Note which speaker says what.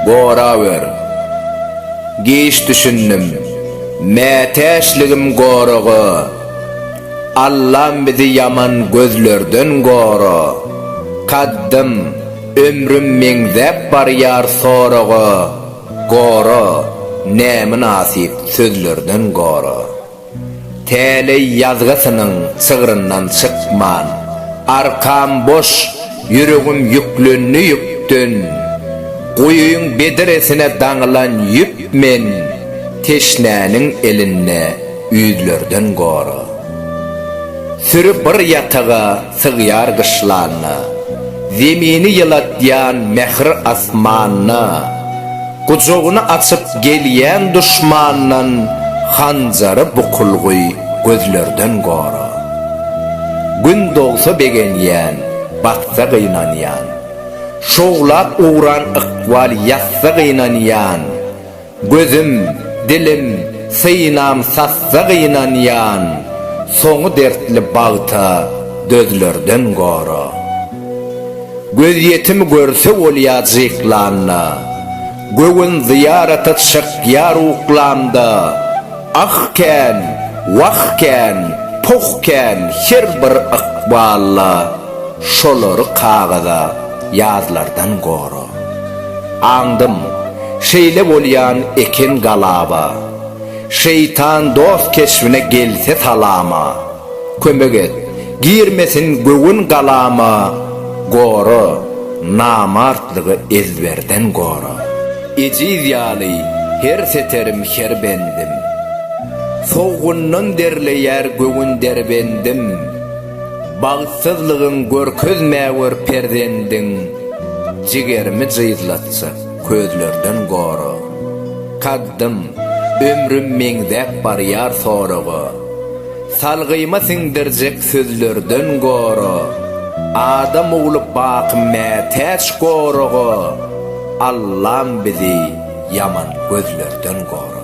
Speaker 1: Gorawer. Giç düşündim. Mätäçligim goragy. Allam bizi ýaman gözlerden gora. Kaddym, ömrüm meňzäp barýar soraga. Gora, nämynasyp sözlerden gora. Täleý ýazgysynyň çygryndan çykman, Arkam boş, ýüregim ýüklendi ýükden, Guýyň bedresine daňylan ýüp men, Teşnäniň elinde ýüzlerden gora. Süri bir ýataga sygýar gyşlanyna, Zemini ýylatýan mähir asmanyna, Gujagyny açyp gelýän duşmandan Hanjary bukulgy gözlerden gora. Gün dogsa begenýän, batsa gynanýan, Şowlap ugran ykbal ýatsa gynanýan, Gözüm, dilim, synam sassa gynanýan, soňy dertli bagta dözlerden gora. Gözýetimi görse bolýa jyklanda, göwün zyýarata çykýar uklamda, Ah kän, wah kän, poh kän her bir ykballa. Şolary kagyza ýazlardan gora. Aňdym, şeýle bolýan eken galaba. Şeýtan dost keşbine gelse salama. Kömek et, girmesin göwün galama, Gora, namartlygy ezberden gora. Ejiz ýaly her seterim, her bendim. Sowgundan derleýär göwün derbendim. Bagtsyzlygyň görkezmä gör perzendiň Jigerimi jyzlatsa, közlerden gora. Kaddym, ömrüm meňzäp barýar soraga, Salgyma siňdirjek sözlerden gora. Adam ogly baky mätäç goraga, Allam bizi ýaman gözlerden gora.